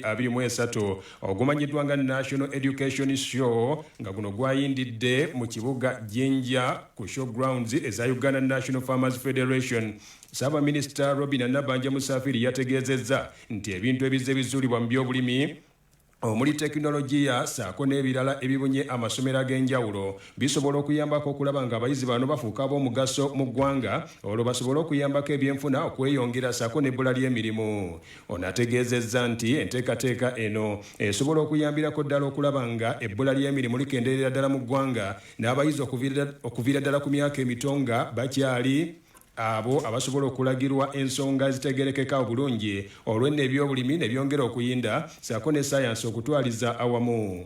abiri mu esatu ogumanyiddwa nga national education show nga guno gwayindidde mu kibuga jinja ku show grounds eza uganda national farmers federation ssaabaminisita robina nabanja musafiri yategeezezza nti ebintu ebizze bizuulibwa mu byobulimi omuli tekinologiya saako n'ebirala ebibunye amasomero ag'enjawulo bisobola okuyambako okulaba nga abayizi bano bafuuka ab'omugaso mu ggwanga olwo basobole okuyambako ebyenfuna okweyongera saako n'ebbula ly'emirimu Ono ategeezezza nti enteekateeka eno esobola okuyambirako ddala okulaba nga ebbula ly'emirimu likendeerera ddala mu ggwanga n'abayizi okuviira ddala ku myaka emito nga bakyali abo abasobola okulagirwa ensonga ezitegerekeka obulungi olwenno ebyobulimi ne byongera okuyinda saako ne sayansi okutwaliza awamu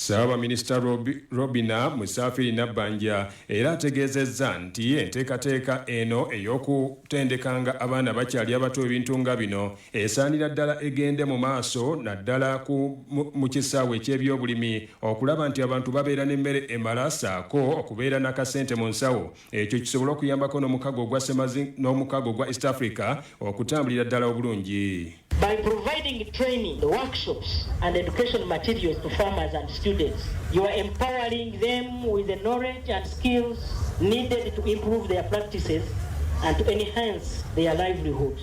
Ssaabaminisita Robinah Musafiri Nabbanja era ategeezezza nti enteekateeka eno ey'okutendekanga abaana abakyali abato ebintu nga bino esaanira ddala egende mu maaso naddala mu kisaawe eky'ebyobulimi okulaba nti abantu babeera n'emmere emala ssaako okubeera n'akasente mu nsawo ekyo kisobole okuyambako n'omukago ogwa semazi n'omukago ogwa east africa okutambulira ddala obulungi By providing training, workshops, and education materials to farmers and students, you are empowering them with the knowledge and skills needed to improve their practices and to enhance their livelihoods.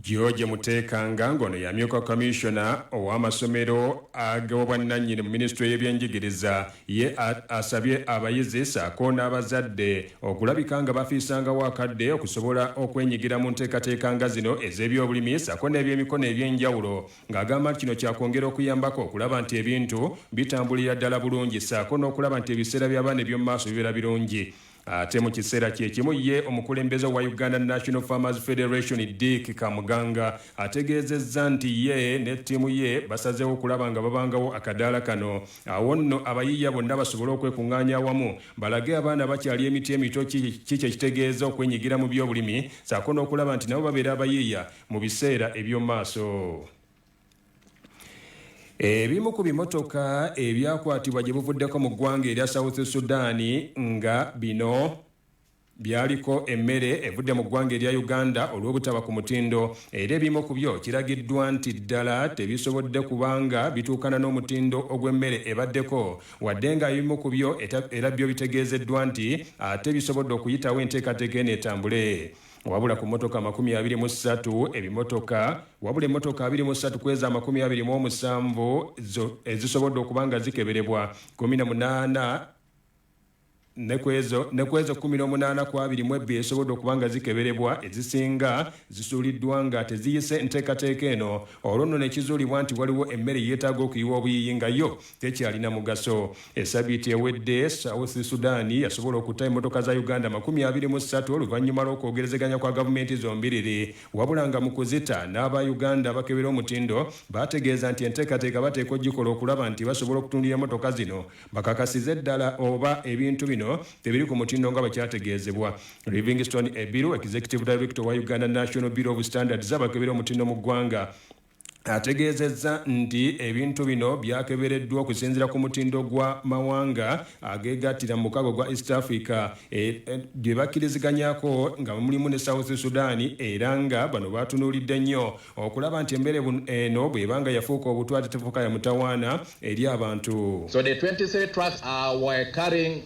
George Muteekanga ng'ono y'amyuka kamiisona ow'amasomero ag'obwannannyini mu minisitule y'ebyenjigiriza ye asabye abayizi ssaako n'abazadde okulabika nga bafiisangawo akadde okusobola okwenyigira mu nteekateeka nga zino ez'ebyobulimi ssaako n'ebyemikono eby'enjawulo ng'agamba nti kino kyakwongera okuyambako okulaba nti ebintu bitambulira ddala bulungi ssaako n'okulaba nti ebiseera by'abaana eby'omu maaso bibeera birungi Ate mu kiseera kye kimu ye omukulembeze wa Uganda National Farmers Federation Dick Kamuganga ategeezezza nti ye ne ttiimu ye basazeewo okulaba nga babangawo akadaala kano awo nno abayiiya bonna basobole okwekung'aanya awamu balage abaana abakyali emiti emito ki kye kitegeeza okwenyigira mu by'obulimi saako n'okulaba nti nabo babeera abayiiya mu biseera eby'omumaaso. Ebimu ku bimotoka ebyakwatibwa gye buvuddeko mu ggwanga erya South Sudan nga bino byaliko emmere evudde mu ggwanga erya Uganda olw'obutaba ku mutindo era ebimu ku byo kiragiddwa nti ddala tebisobodde kubanga bituukana n'omutindo ogw'emmere ebaddeko wadde nga ebimu ku byo era byo bitegeezeddwa nti ate bisobodde okuyitawo enteekateeka eno etambule. wabula ku motoka amakumi abiri mu ssatu ebimotoka wabula emotoka abiri mu ssatu ku ezo amakumi abiri mu omusanvu ezisobodde okuba nga zikeberebwa kumi na munaana ne ku ezo kumi n'omunaana ku abiri mu ebbi ezisobodde okuba nga zikeberebwa ezisinga zisuuliddwa nga teziyise nteekateeka eno olwo nno nekizuulibwa nti waliwo emmere yeetaaga okuyiwa obuyiyi nga yo tekyalina mugaso. Esabiiti ewedde South Sudan yasobola okutta emotoka za Uganda makumi abiri mu ssatu oluvannyuma lw'okwogerezeganya kwa gavumenti zombiriri wabula nga mu kuzita n'aba Uganda abakebera omutindo baategeeza nti enteekateeka bateeka ogikola okulaba nti basobola okutundira emotoka zino bakakasize ddala oba ebintu bino tebiri ku mutindo nga bakyategeezebwa Livingstone Ebiru Executive Director wa Uganda National Bureau of Standards abakebera omutindo mu ggwanga ategeezezza nti ebintu bino byakebereddwa okusinzira ku mutindo gwa mawanga ageegattira mu mukago gwa East Africa e, e, bye bakkiriziganyako nga mulimu ne South Sudan era nga bano baatunuulidde nnyo okulaba nti embeere eno bw'ebanga yafuuka obutwa tetefuuka ya mutawaana eri abantu So the 23 trucks are carrying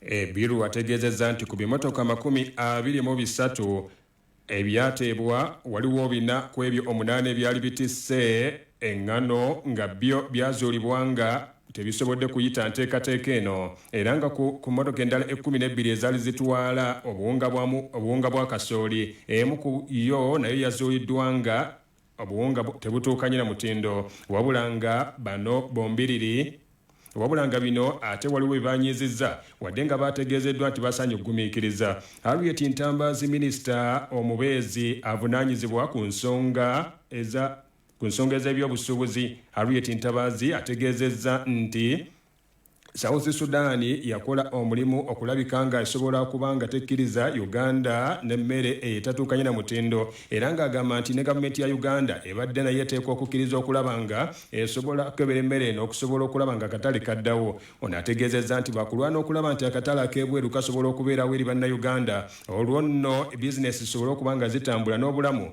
Ebiru ategeezezza nti ku bimotoka makumi abiri mu bisatu ebyateebwa waliwo bina ku ebyo omunaana ebyali bitisse eng'ano nga byo byazuulibwa nga tebisobodde kuyita nteekateeka eno era nga ku ku mmotoka endala ekkumi n'ebbiri ezaali zitwala obuwunga bwa obuwunga bwa kasooli emu ku yo nayo yazuuliddwa nga obuwunga tebutuukanye na mutindo wabula nga bano bombiriri wabula nga bino ate waliwo bye banyiizizza wadde nga baategeezeddwa nti basaanye okugumiikiriza Harriet Ntambaazi minisita omubeezi avunaanyizibwa ku nsonga eza ku nsonga ez'ebyobusuubuzi Harriet Ntabaazi ategeezezza nti South Sudan yakola omulimu okulabika nga esobola okuba nga tekkiriza Uganda n'emmere etatuukanye na mutindo era ng'agamba nti ne gavumenti ya Uganda ebadde nayo eteekwa okukkiriza okulaba nga esobola okukebera emmere eno okusobola okulaba nga akatale kaddawo. Ono ategeezezza nti baakulwana okulaba nti akatale ak'ebweru kasobola okubeerawo eri Bannayuganda olwo nno bizinensi zisobole okuba nga zitambula n'obulamu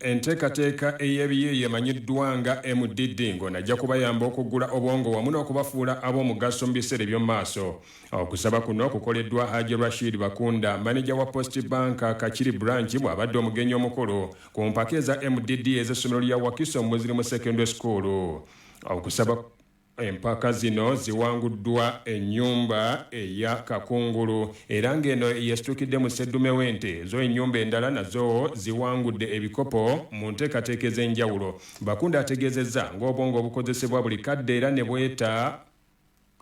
Enteekateeka ey'ebiyiiye emanyiddwa nga MDD ng'ono ajja kubayamba okuggula obwongo wamu n'okubafuula ab'omugaso mu biseera eby'omu maaso. Okusaba kuno kukoleddwa Haji Rashid Bakunda, maneja wa Post Bank Kakiri Branch bw'abadde omugenyi omukulu ku mpaka eza MDD ez'essomero lya Wakiso Muslim Secondary School. Okusaba. Empaka zino ziwanguddwa ennyumba eya Kakungulu era ng'eno yesitukidde mu sseddume w'ente zo ennyumba endala nazo ziwangudde ebikopo mu nteekateeka ez'enjawulo. Bakunda ategeezezza ng'obwongo obukozesebwa buli kadde era ne bweta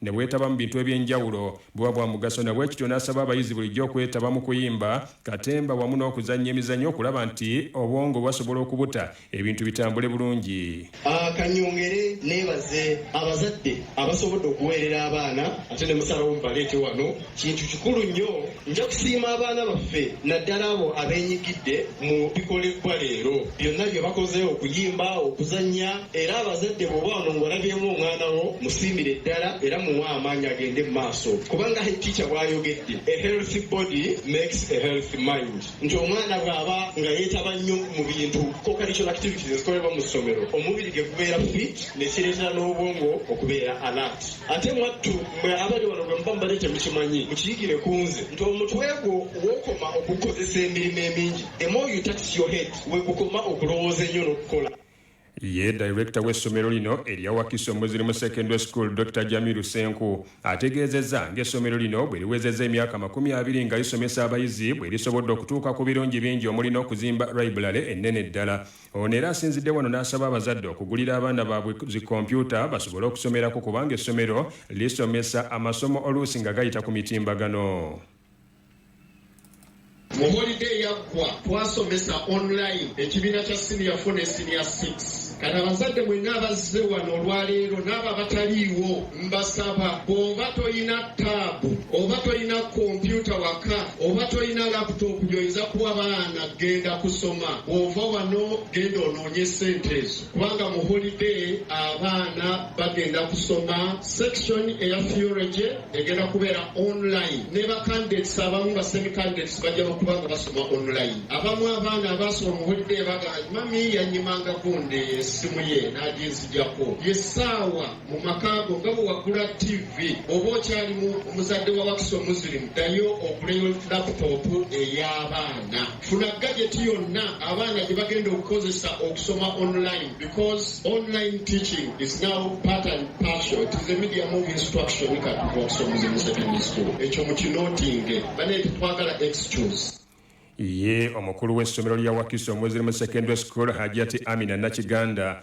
ne bwetaba mu bintu eby'enjawulo buba bwa mugaso na bwekityo n'asaba abayizi bulijjo okwetaba mu kuyimba, katemba wamu n'okuzannya emizannyo okulaba nti obwongo basobola okubuta ebintu bitambule bulungi. Kanyongere nebaze abazadde abasobodde okuweerera abaana ate ne musalawo mubaleete wano. Kintu kikulu nnyo. Nja kusiima abaana baffe naddala abo abeenyigidde mu bikolebbwa leero. Byonna bye bakoze okuyimba, okuzannya era abazadde bw'oba wano ng'olabyemu omwana wo musiimire ddala era muwe amaanyi agende mu maaso kubanga Hajj Teacher bw'ayogedde, A healthy body makes a healthy mind. nti omwana bw'aba nga yeetaba nnyo mu bintu co-curricular activities ezikolebwa mu ssomero omubiri ge gubeera fit ne kireetera n'obwongo okubeera alert ate mwattu mwe abali wano bwe muba mubadde temukimanyi mukiyigire ku nze nti omutwe gwo w'okoma okukozesa emirimu emingi the more you tax your head we gukoma okulowooza ennyo n'okukola Ye dayirekita w'essomero lino erya Wakiso Muslim Secondary School Dokita Jamiru Senku ategeezezza ng'essomero lino bwe liwezezza emyaka makumi abiri nga lisomesa abayizi bwe lisobodde okutuuka ku birungi bingi omuli n'okuzimba layibulale ennene ddala. Ono era asinzidde wano n'asaba abazadde okugulira abaana baabwe zi kompyuta basobole okusomerako kubanga essomero lisomesa amasomo oluusi nga gayita ku mitimbagano. Mu holide eyaggwa twasomesa online ekibiina kya siniya fo ne siniya 6 kati abazadde mwenna abazze wano olwaleero n'abo abataliiwo mbasaba bw'oba tolina taabu oba tolina kompyuta waka oba tolina laputopu gy'oyinza kuwa baana genda kusoma bw'ova wano genda onoonye ssente ezo kubanga mu holide abaana bagenda kusoma sekisoni eya theology egenda kubeera online ne bacandidates abamu ba semi candidates bajja nokuba nga basoma online abamu abaana abaasoma muwedde baga mami yanyimanga kunde esimu ye naginzijako yesaawa mu makaago nga bwewagula tv oba okyalimu omuzadde wa wakisa omuzirimu ddayo okuleyo laputopu ey'abaana Funa gajeti yonna abaana gye bagenda okukozesa okusoma online because online teaching is now part and partial it is a medium of instruction kati okusomesa mu secondary school ekyo mukinotinge banaye tetwagala excuse ye omukulu w'essomero lya wakiso muslim secondary school hajati amina nakiganda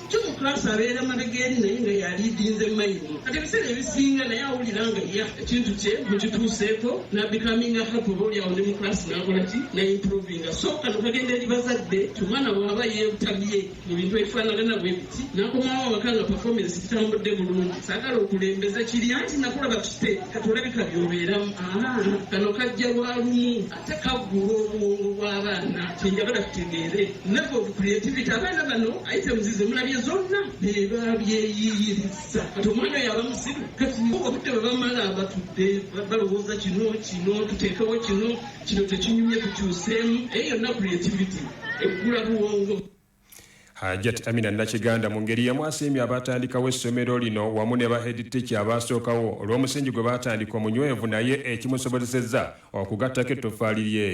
Jjumu Class abeera mabega eri naye nga yaliidinze mayini kati ebiseera ebisinga naye awulira nga ya ekintu kye mukituuseeko nabikaminga hapo oba olyawo ne mu class nakola ki naimprovinga so kano kagenda eri bazadde omwana bwaba yebutabye mu bintu ebifaanagana bwe biti nakomawo awaka nga performance kitambudde bulungi saagala okulembeza kiri anti nakulaba tute kati olabika byobeeramu kano kajja lwa lumu tekaggula obwongo bw'abaana kyenjagala tutegeere level of creativity abaana bano items zemulabye zonna bebabyeyiyirizza kati omwana oyo aba musiru kati obudde bwe bamala batudde balowooza kino kino tuteekewo kino kino tekinyumye tukyuseemu eyo yonna creativity eggula buwongo Hajat Amina Nakiganda mu ngeri y'emu asiimye abaatandikawo essomero lino wamu ne ba Head Teacher abaasookawo olw'omusingi gwe baatandika omunywevu naye ekimusobozesezza okugattako ettoffaali lye.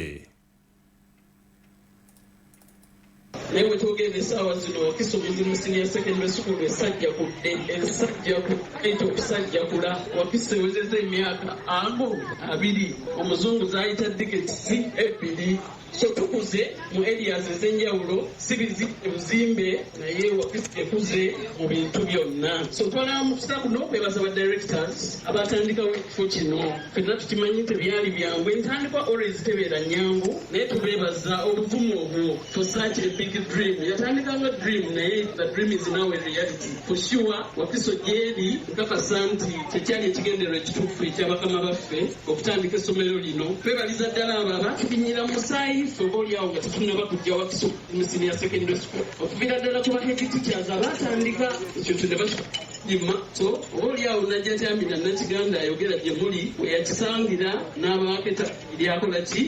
naye wetwogenda esaawa zino wakisubizi mu senior secondary school esajja kudde esajja kukaita okusajja kula wakisa ewezeza emyaka amu abiri omuzungu zayita diketisi ebbiri Kye tukuze mu areas ezenjawulo si bizimbe buzimbe naye office ekuze mu bintu byonna so twala mukisa kuno kwebaza ba directors abatandikawo ekifo kino fenna tukimanyi tebyali byangu entandikwa always tebeera nyangu naye tubebaza obuvumu obwo for such a big dream yatandikanga dream naye the dream is now a reality for sure wakiso gyeri nkakasa nti kyekyali ekigendero ekituufu ekyabakama baffe Okutandika essomero lino twebaliza ddala abo abaatubinyira mu musaayi ffe oba olyawo nga tetunaba kujja Wakiso mu siniya secondary school okuviira ddala ku bahead teachers abaatandika ekintu ne bakima so oba olyawo najja kyamina nakiganda ayogera gye muli weyakisangira n'abaaketa lyakola ki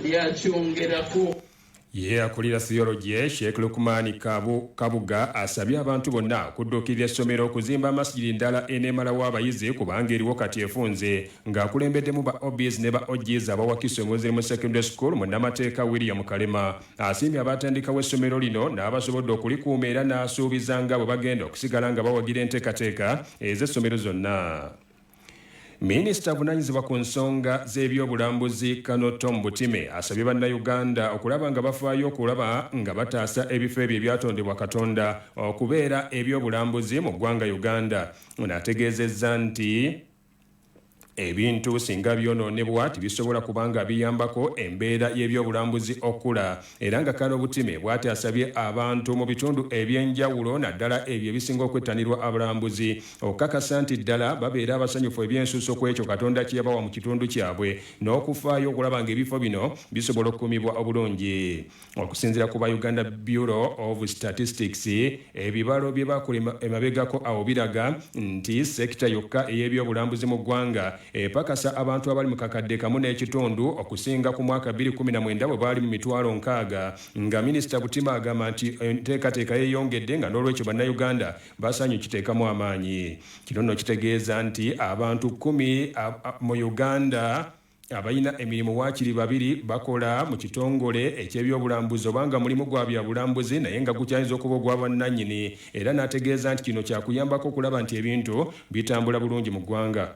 lyakyongerako Ye akulira Theology, Sheikh Lukumaani Kabu, Kabuga asabye abantu bonna okudduukirira essomero okuzimba Masjid ndala eneemalawo abayizi kubanga eriwo kati efunze ng'akulembeddemu ba OBs ne ba OGs abawakise Muslim Secondary School Munnamateeka William Kalema asiimye abaatandikawo essomero lino n'abasobodde okulikuuma era n'asuubiza nga bwe bagenda okusigala nga bawagira enteekateeka ez'essomero zonna. Minisita avunanyizibwa ku nsonga z'ebyobulambuzi Kano Tom Butime asabye bannayuganda okulaba nga bafaayo okulaba nga bataasa ebifo ebyo ebyatondebwa Katonda okubeera ebyobulambuzi mu ggwanga Uganda. Ono ategeezezza nti ebintu singa byonoonebwa tebisobola kubanga biyambako embeera y'ebyobulambuzi okukula era nga Kano Butime bwati asabye abantu mu bitundu eby'enjawulo naddala ebyo ebisinga okwettanirwa abalambuzi okukakasa nti ddala babeera abasanyufu eby'ensusso ku ekyo Katonda kye yabawa mu kitundu kyabwe, n'okufaayo okulaba ng'ebifo bino bisobola okukuumibwa obulungi. Okusinziira ku ba Uganda Bureau of Statistics, ebibalo bye baakola emabegako awo biraga nti sekita yokka ey'ebyobulambuzi mu ggwanga epakasa abantu abali mu kakadde kamu n'ekitundu okusinga ku mwaka bbiri kkumi na mwenda bwe baali mu mitwalo nkaaga nga Minisita Butima agamba nti enteekateeka yeeyongedde nga n'olwekyo Bannayuganda Basanyu kiteekamu amaanyi. Kino nno kitegeeza nti abantu kkumi mu Uganda abalina emirimu waakiri babiri bakola mu kitongole eky'ebyobulambuzi oba nga mulimu gwa byabulambuzi naye nga gukyayinza okuba ogwa bwannannyini era n'ategeeza nti kino kyakuyambako okulaba nti ebintu bitambula bulungi mu ggwanga.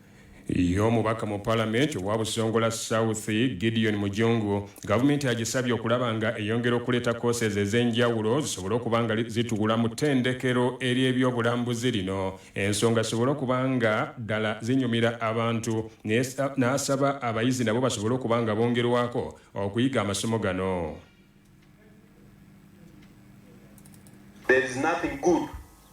Ye omubaka mu palamenti owa Busongola South, Gideon Mujungu, gavumenti agisabye okulaba nga eyongera okuleeta courses ez'enjawulo zisobole okuba nga zituula mu ttendekero ery'ebyobulambuzi lino ensonga zisobole okuba nga ddala zinyumira abantu n'asaba abayizi nabo basobole okuba nga bongerwako okuyiga amasomo gano. There is nothing good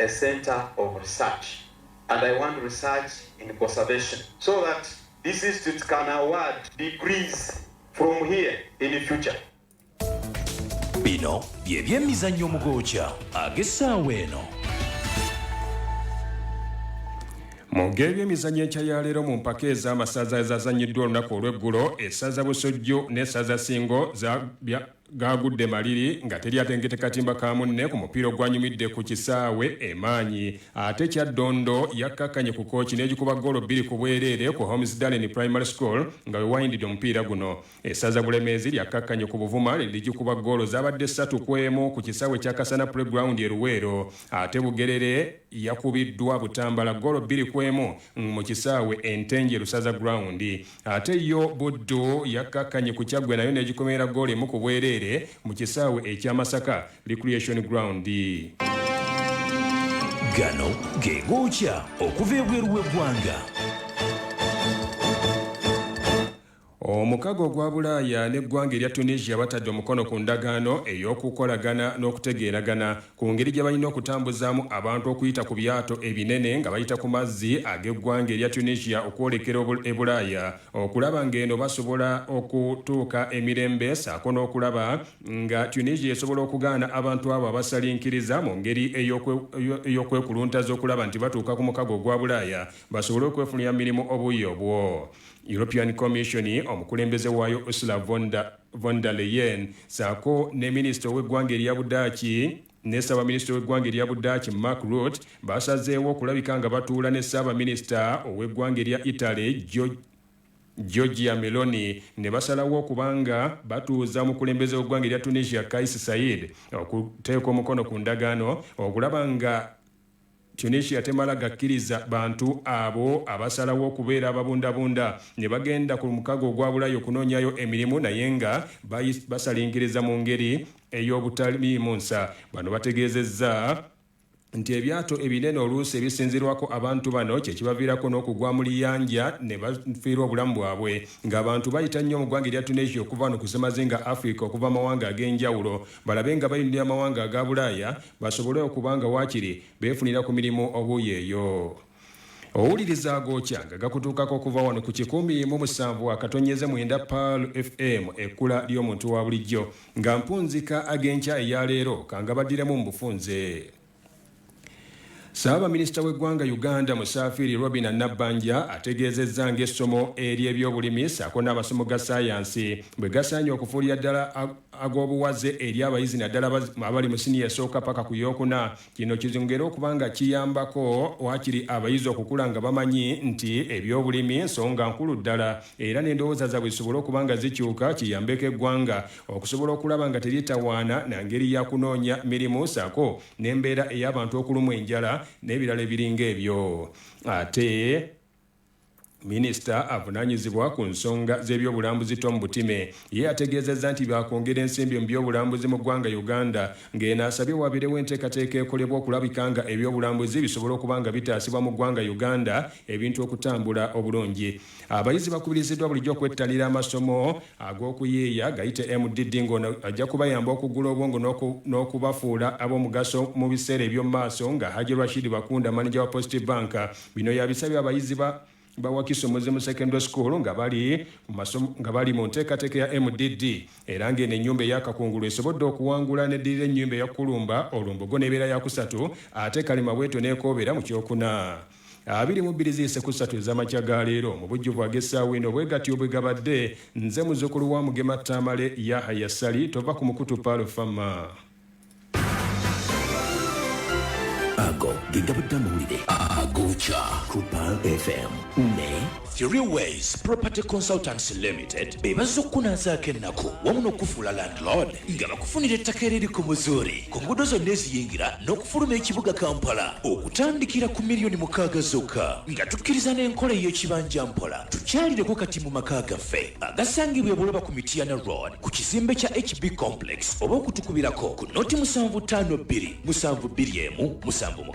a centre of research and I want research in conservation so that this institute can award degrees from here in future. Bino bye byemizannyo mu gookya ag'essaawa eno. Mu geebyemizannyo enkya ya leero mu mpaka ez'amasaza ezazannyiddwa olunaku olw'eggulo, essaza Busujju n'essaza Ssingo za gaagudde maliri nga teri atengedde katimba ka munne ku mupiira ogwanyumidde ku kisaawe e Maanyi ate Kyaddondo yakkakkanye ku Kooki n'egikuba ggoolo bbiri ku bwereere ku Hormisdallen Primary School nga we wayindidde omupiira guno. Essaza Bulemeezi lyakkakkanye ku Buvuma ne ligikuba ggoolo zaabadde ssatu ku emu ku kisaawe kya Kasana Playground e Luweero ate Bugerere yakubiddwa Butambala ggoolo bbiri ku emu mu kisaawe e Ntenjeru Saza Ground. Ate yo Buddu yakkakkanye ku Kyaggwe nayo n'egikomera ggoolo emu ku bwereere mu kisaawe ekya Masaka Recreation Ground. Gano ge gookya okuva ebweru w'eggwanga. Omukago ogwa Bulaaya n'eggwanga erya Tunisia batadde omukono ku ndagaano ey'okukolagana n'okutegeeragana ku ngeri gye balina okutambuzaamu abantu okuyita ku byato ebinene nga bayita ku mazzi ag'eggwanga erya Tunisia okwolekera e Bulaaya okulaba ng'eno basobola okutuuka emirembe ssaako n'okulaba nga Tunisia esobola okugaana abantu abo abasalinkiriza mu ngeri ey'okwekuluntaza okulaba nti batuuka ku mukago ogwa Bulaaya basobole okwefunira mirimu obuuyi obwo European Commission omukulembeze waayo Ursula von der von der Leyen saako ne minisita ow'eggwanga erya Budaaki ne ssaabaminisita w'eggwanga erya Budaaki Mark Rutte basazeewo okulabika nga batuula ne ssaabaminisita ow'eggwanga erya Italy George Giorgia Meloni ne basalawo okuba nga batuuza omukulembeze w'eggwanga erya Tunisia Kais Saied okuteeka omukono ku ndagaano okulaba nga Tunisia temala gakkiriza bantu abo abasalawo okubeera ababundabunda ne bagenda ku mukago ogwa Bulaya okunoonyayo emirimu naye nga basalinkiriza mu ngeri ey'obutaliimu nsa. Bano bategeezezza nti ebyato ebinene oluusi ebisinzirwako abantu bano kye kibaviirako n'okugwa mu liyanja ne bafiirwa obulamu bwabwe ng'abantu bayita nnyo mu ggwanga erya Tunisia okuva wano ku ssemazinga Afrika okuva mu mawanga ag'enjawulo balabe nga bayinulira amawanga aga Bulaaya basobole okuba nga waakiri beefunira ku mirimu obuuyi eyo owuliriza agookya nga gakutuukako okuva wano ku kikumi mu musanvu akatonnyeze mwenda paal fm ekkula ly'omuntu wa bulijjo nga mpunzika ag'enkya eya leero kangabaddiramu mu bufunze Ssaabaminisita w'eggwanga Uganda Musaafiiri Robina Nabbanja ategeezezza ng'essomo ery'ebyobulimi ssaako n'amasomo ga ssaayansi bwe gasaanye okufuulira ddala ag'obuwaze eri abayizi naddala abali mu siniya esooka paka ku yookuna kino kizongere okuba nga kiyambako waakiri abayizi okukula nga bamanyi nti ebyobulimi nsonga nkulu ddala era n'endowooza zaabwe zisobole okuba nga zikyuka kiyambeko eggwanga okusobola okulaba nga teryetawaana na ngeri ya kunoonya mirimu ssaako n'embeera ey'abantu okulumwa enjala n'ebirala ebiringa ebyo ate Minisita avunaanyizibwa ku nsonga z'ebyobulambuzi Tom Butime ye ategeezezza nti baakwongera ensimbi mu byobulambuzi mu ggwanga Uganda ng'eno asabye wabeerewo enteekateeka ekolebwa okulabika nga ebyobulambuzi bisobola okuba nga bitaasibwa mu ggwanga Uganda ebintu okutambula obulungi. Abayizi bakubiriziddwa bulijjo okwettanira amasomo ag'okuyiiya gayite MDD ng'ono ajja kubayamba okuggula obwongo n'okubafuula ab'omugaso mu biseera eby'omu maaso nga Hajji Rashid Bakunda maneja wa Post Bank bino yabisabye abayizi ba ba Wakiso Muzimu Secondary School nga bali mu masomo nga bali mu nteekateeka ya MDD era ng'eno ennyumba eyakakungulu esobodde okuwangula n'eddirira ennyumba eya Kulumba olumbogo n'ebeera ya kusatu ate Kalimabweto n'ekoobera mu kyokuna. abiri mu bbiri ziyise ku ssatu ez'amakya ga leero mu bujjuvu ag'essaawa eno bwe gatyo bwe gabadde nze muzukulu wa mugema tamale yahaya sali tova ku mukutu paalo fama ago ge gabadde amawulire agokya ku paal fm ne Three Ways Property Consultants Limited be bazze okukunaazaako ennaku wamu n'okukufuula landlord nga bakufunira ettaka eririko muzuuri ku nguudo zonna eziyingira n'okufuluma ekibuga kampala okutandikira ku miliyoni mukaaga zokka nga tukkiriza n'enkola ey'ekibanja mpola tukyalireko kati mu maka gaffe agasangibwa ebuloba ku mitiyana road ku kizimbe kya hb complex oba okutukubirako ku noti musanvu ttaano bbiri musanvu bbiri emu musanvu